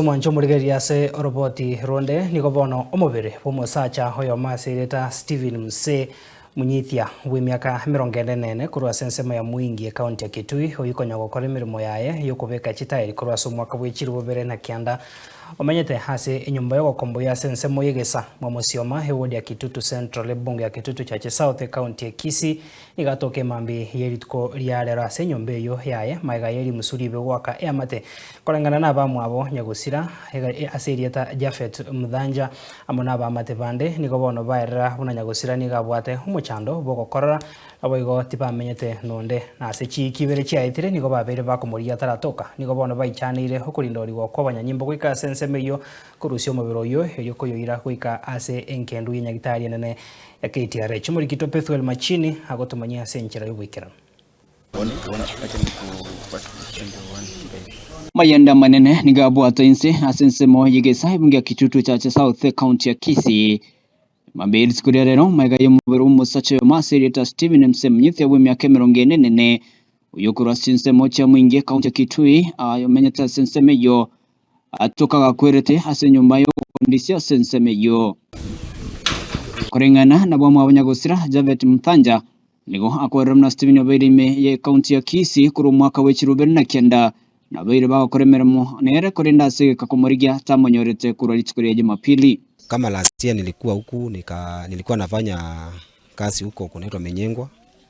Omwancho omorigereria ase oroboti ronde nigo bono omobere bw'omosacha oyomo ase erieta Stephen Mse, monyithia bw'emiaka emerongo ende na ene korwa ase ensemo ya Mwingi, ekaunti ya Kitui, oyio konya gokora emeremo yaye y'okobeka chitaeri korwa ase omwaka bw'echiro bobere na kianda. Omenyete ase enyomba y'ogokomboyio ase ensemo y'egesa Mwamosioma, ewodi ya Kitutu Central, ebunge ya Kitutu Chache South, ekaunti ya Kisii, Igatoka emambia ye rituko ria rero ase enyomba eyio yaye, maega ye rimusu ribe goaka eamate, koreng'ana nabamwabo nyagosira, e, ase erieta Jafet Mthanja, amo nabaamate bande, nigo bono baerera buna nyagosira nigo abwate omochando bw'ogokorora, naboigo tibamenyete nonde. Na ase chiiki ibere chiaetire nigo babeire bakomorigia ataratoka, nigo bono baichaneire okorindorigwa kw'abanyanyimbo goika ase ensemo eyio, korusia omobere oyio, erio koyoira goika ase engendu ye nyagitari enene Ekeitiara echi Omorikito Pethuel Machini agotomanyia ase enchera y'oboikeranu. Mayende amanene nigo abwatwa inse ase ensemo y'egesae bunge ya Kitutu Church South, County ya Kisii. Mambia ye rituko ria rero, magega y'omobere bw'omosacha oyomo ase erieta Stephen Msemnyi Thia bw'emiaka emerongo ene nene, oyio okorwa ase chinsemo chiamoinge County ya Kitui, omenyete ase ensemo eyio. atoka gakwerete ase enyomba y'obofundisi ase ensemo eyio. Koreng'ana nabw'omwabanya gosira, Javett Mthanja nigo akorire buna Stephen obeire ime y'ekaunti ya Kisii korwa omwaka bw'echiro ibere na kenda nabaire bagokora emeremo nere korende ase egeka komorigia tamonyorete korwa rituko ria Jumapili. Kama last year nilikuwa huku nika, nilikuwa nafanya kazi huko kunaitwa Menyengwa.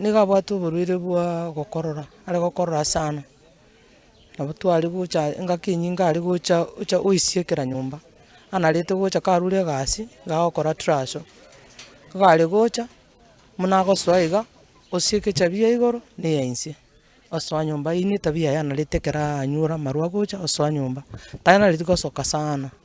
nigo abwate oborwaire bwa gokorora, are gokorora sana, nabo tware gocha engaki enyinge are gocha ocha oisie kera nyomba, anarete gocha karure egasi, iga agokora traso, nigo are gocha, buna agosoa iga, osie egechabi ya igoro na eya inse, osoa nyomba, eyio netabia yaye anarete ekero anyora amarwa agocha osoa nyomba, tanareti gosoka sana.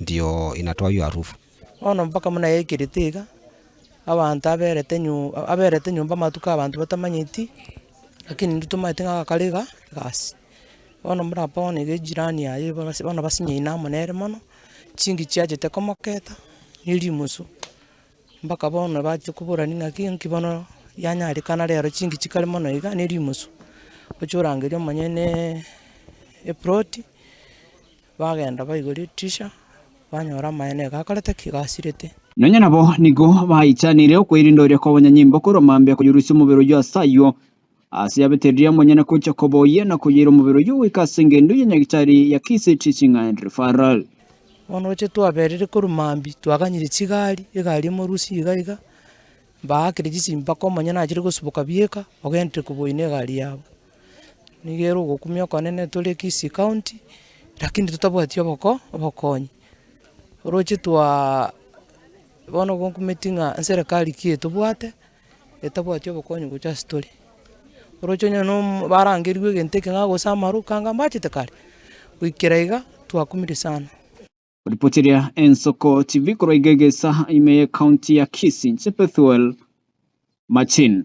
Ndio inatoa hiyo harufu. Bono mpaka buna yaikirete iga, abanto aberete nyu aberete nyomba amatuko abanto batamanyeti, lakini intwe tomaete ng'a agakare iga egasi. Bono buna apa bono iga ejirani yaye bono bas bono basinyaine amo nere mono, chinki chiachete komoketa, ne rimusu, mpaka bono bache koborani ng'aki nki bono yanyarekana rero chinki chikare mono iga ne rimusu, oche orangerie omonyene eproti. Bagenda baigoria etiisha, banyora amaye nigo akorete ki? Gasirete. Nonya nabo nigo baichanire okoirendoria kobonya nyimbo korwa mambia koyorusia omobere oyio ase ayio, ase yabete riria monyene kocha koboyia na koyaira omobere oyio goika ase engendo ya nyagetari ya Kisii Teaching and Referral. Bono gochia twaberire korwa mambia, twaganyire chigari, egari emorusi iga iga, Mbaakire chisimbaka omonyene achire gosuboka bieka ogenderere koboi na egari yabo. Nigo ere ogokumia okonene tore Kisii county lakini totabwati oboko obokonyi. Oroche twaa bono igo nkumeti ng'a nserekari ki etobwate etabwati obokonyi gocha ase tore. Oroche onye no omo barangerigwe egento eke ng'a gose amaroke anga mbachete kare, goikera iga twakumire sana. Ripoti eria Ensoko TV korwa iga egesa ime ye county ya Kisii inche Bethuel Machin.